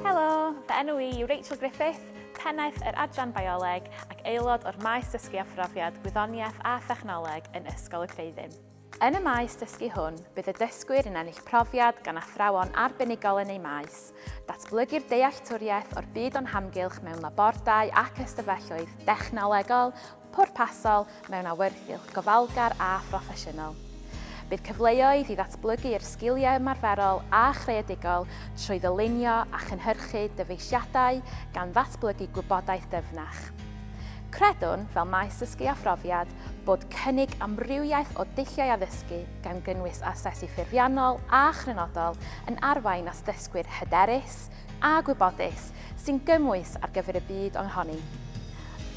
Helo, fy enw i yw Rachel Griffith, pennaeth yr Adran Bioleg ac aelod o'r maes dysgu a phrofiad gwyddoniaeth a thechnoleg yn Ysgol y Creuddyn. Yn y maes dysgu hwn, bydd y dysgwyr yn ennill profiad gan athrawon arbenigol yn eu maes, datblygu'r dealltwriaeth o'r byd o'n hamgylch mewn labordai ac ystafelloedd dechnolegol, pwrpasol mewn awyrgylch gofalgar a phroffesiynol. Bydd cyfleoedd i ddatblygu'r sgiliau ymarferol a chreadigol trwy ddylunio a chynhyrchu dyfeisiadau gan ddatblygu gwybodaeth dyfnach. Credwn, fel maes dysgu a phrofiad, bod cynnig amrywiaeth o dulliau addysgu, gan gynnwys asesu ffurfiannol a chrynodol, yn arwain at ddysgwyr hyderus, a gwybodus sy'n gymwys ar gyfer y byd ohoni.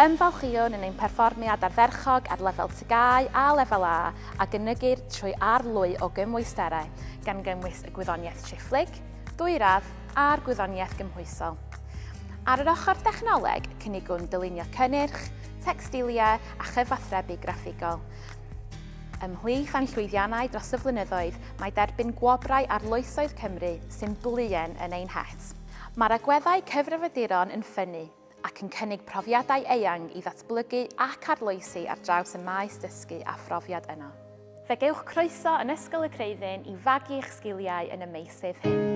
Ymfalchïwn yn ein perfformiad ardderchog ar lefel TGAU a Lefel A a gynygir trwy arlwy o gymwysterau, gan gynnwys y gwyddoniaeth triphlyg, dwyradd a'r gwyddoniaeth gymhwysol. Ar yr ochr dechnoleg, cynigwn dylunio cynnyrch, tecstiliau a chyfathrebu graffigol. Ymhlith ein llwyddiannau dros y flynyddoedd mae derbyn gwobrau arloesoedd Cymru, sy'n bluen yn ein het. Mae'r agweddau cyfrifiaduron yn ffynnu ac yn cynnig profiadau eang i ddatblygu ac arloesi ar draws y maes dysgu a phrofiad yno. Fe gewch groeso yn Ysgol y Creuddyn i fagu eich sgiliau yn y meysydd hyn.